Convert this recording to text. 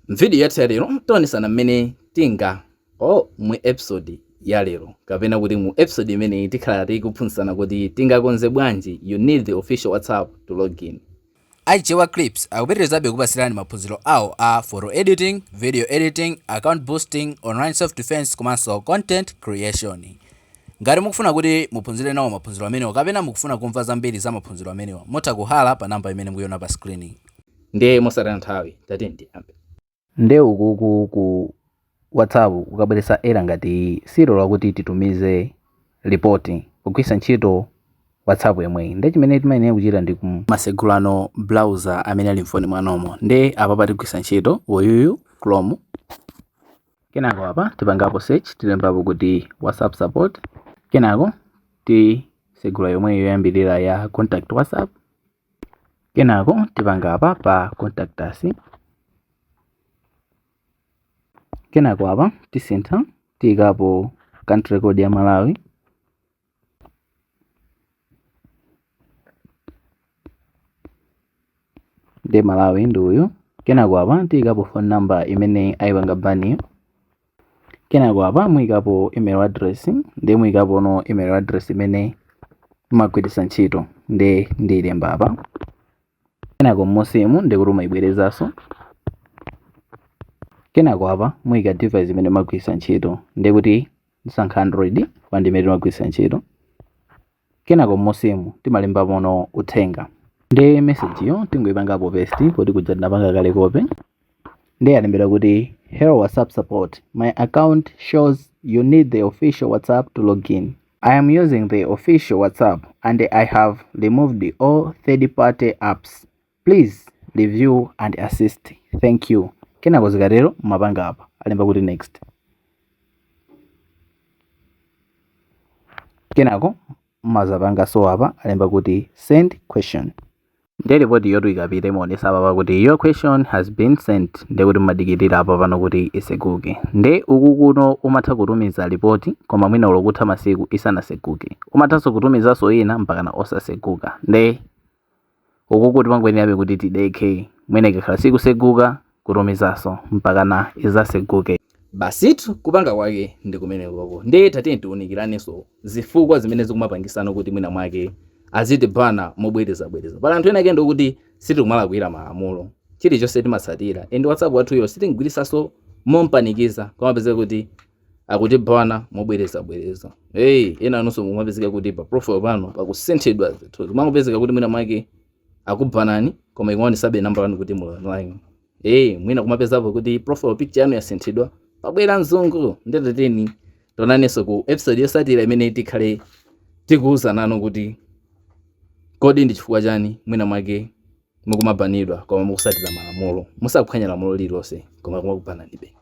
M'vidiyo yathu ya lero, tionetsana mmene tinga or mu episode ya lero kapena kuti mu episode imeneyi tikhala tikuphunzitsana kuti tingakonze bwanji you need the official WhatsApp to login. Chewa Clips akupitirizabe kupatsirani maphunziro awo a photo editing, video editing, account boosting, online self defense komanso content creation. Ngati mukufuna kuti muphunzire nawo maphunziro amenewa kapena mukufuna kumva zambiri za maphunziro amenewa, mutha kuhala pa namba imene mukuiona pa screen. Ndiye mosataya nthawi tatiyeni tiyambe. Nde ukuku ku whatsapp ukabweresa error ngati iyi siyilola kuti titumize report pogwirisa ntchito whatsapp yomweyi nde chimene timayenera kuchita ndi kum. masegulano browser amene ali mfoni mwanomo nde apapa tigwirisa ntchito uyuyu chrome kenako apa tipangapo search tilembapo kuti whatsapp support kenako tisegula yomweyi yoyambilira ya contact whatsapp Kenako tipanga apa pa contact us. Kenako apa tisintha tiyikapo country code ya Malawi. Nde Malawi ndi uyu. Kenako apa tiyikapo phone number imene ayipanga baniyo. kenako apa muyikapo email address ndiye muyikapono email address imene mumagwiritsa ntchito ndiye ndiyilemba apa kenako m'munsimu ndiye kuti mumayibwerezanso kenako apa muyika device imene mumagwiritsa ntchito ndiye kuti ndisankha android pa ndimene timagwiritsa ntchito kenako m'musimu timalembamono uthenga nde message yo tingoipangapo paste poti kuja tinapanga kale copy nde yalembedwa kuti hello whatsapp support my account shows you need the official whatsapp to login i am using the official whatsapp and i have removed all third party apps Please review and assist. Thank you. Kenako zikatero mumapanga apa alemba kuti next. Kenako mumazapangaso apa alemba kuti send question. Ndiye report yotu ikapita imaonesa apapa kuti your question has been sent ndiye kuti mumadikirira apa pano kuti iseguke. Nde uku kuno umatha kutumiza report koma mwina ulokutha masiku isanaseguke. Umathanso kutumizanso ina mpakana osaseguka. Nde ukuku timangoyenerabe kuti tidekhe mwina ikakhala sikuseguka kutumizaso mpakana izaseguke. Basitu kupanga kwake ndi kumenekoko nde tatiyeni tiunikilaneso zifukwa zimene zikumapangisano kuti mwina mwake azitibana mobweleza bweleza pali anthu ena ake ndi okuti sitikumalakwila malamulo chilichose timatsatila and whatsapp wathuyo sitimgwilisaso mompanikiza kumapezeka kuti akutibana mobwerezabwereza hey, ena anonso mumapezeka kuti pa profile pano pakusinthidwa zinthu zimangopezeka kuti mwina mwake akubanani koma ikumaonesabe namba yanu kuti muli online hey, mwina kumapezapo kuti profile picture yanu yasinthidwa pabwera mzungu nde tionane tionanenso ku episode yosatira imene tikhale tikuwuzanani kuti kodi ndi chifukwa chani mwina mwake mukumabanidwa koma mukusatira malamulo musaphwanya lamulo lililonse koma kumakubananibe